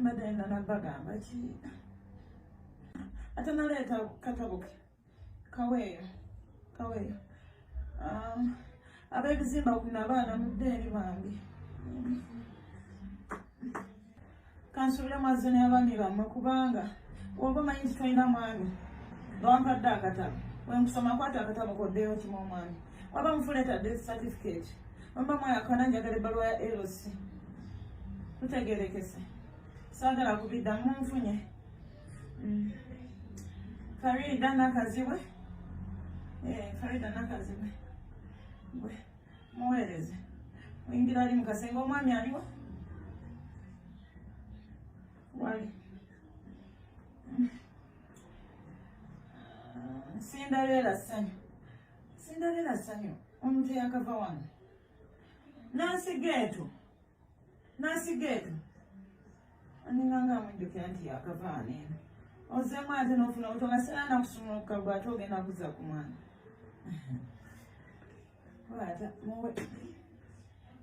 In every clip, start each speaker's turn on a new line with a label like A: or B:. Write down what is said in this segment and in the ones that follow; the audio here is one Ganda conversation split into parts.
A: mbadde nina nabagamba ki ate naleeta katabuke kaweeyo kaweeyo um, ab'ebizimba kuna abaana mudde eri bambi kansubire mwazze n'abaami bammwe kubanga oba omanyi nti tolina mwami nga wampadde akatabo wenkusoma kwata akatabo koddeyo okima omwami waba mufuleeta death certificate wemba mwayakana njagala ebbaluwa ya lc tutegerekese saagala kubidda munfunye mm. farida nakazibwe eh, farida nakazibwe Muweereze. Oyingira ali mu kasenge omwami aliwa? Wali. Cinderella ssanyu. Cinderella ssanyu. Omuntu yakava wano. Nansi geetu. Nasigeka. Aninganga mujjukira nti yakavaana eno. Ozeemu ate n'ofuna obuto nga sirana kusumuluka gwe ate ogenda kuzza ku mwana. Wata muwe.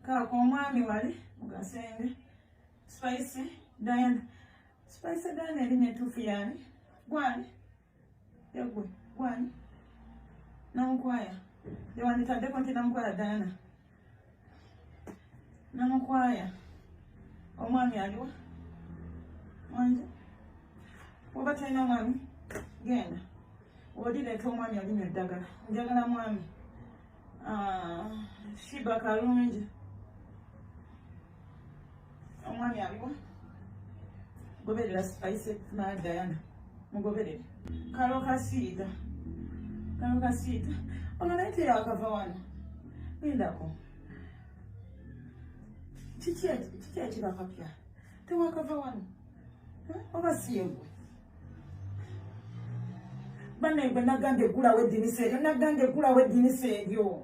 A: Kaako omwami wali mugasenge. Spice Diana. Spice Diana erinnya ettuufu yaani? Gwani? Egwe, gwani? Namukwaya. Yewanditaddeko nti Namukwaya Diana. Namukwaya. Omwami aliwa? Mwanje? Oba talina mwami? Genda. Odireeta omwami alinywa eddagala. Njagala mwami. Ah, Shiba Kalungi. omwami aliwa goberera spice na diana mugoberere kalo kasiita kalo kasiita ono naye teyakava wano lindako kiki ekibakapya tewakava wano oba siyegwe bana egwe nagambye gulawo edinisa eryo nagambye gulawo edinisa eryo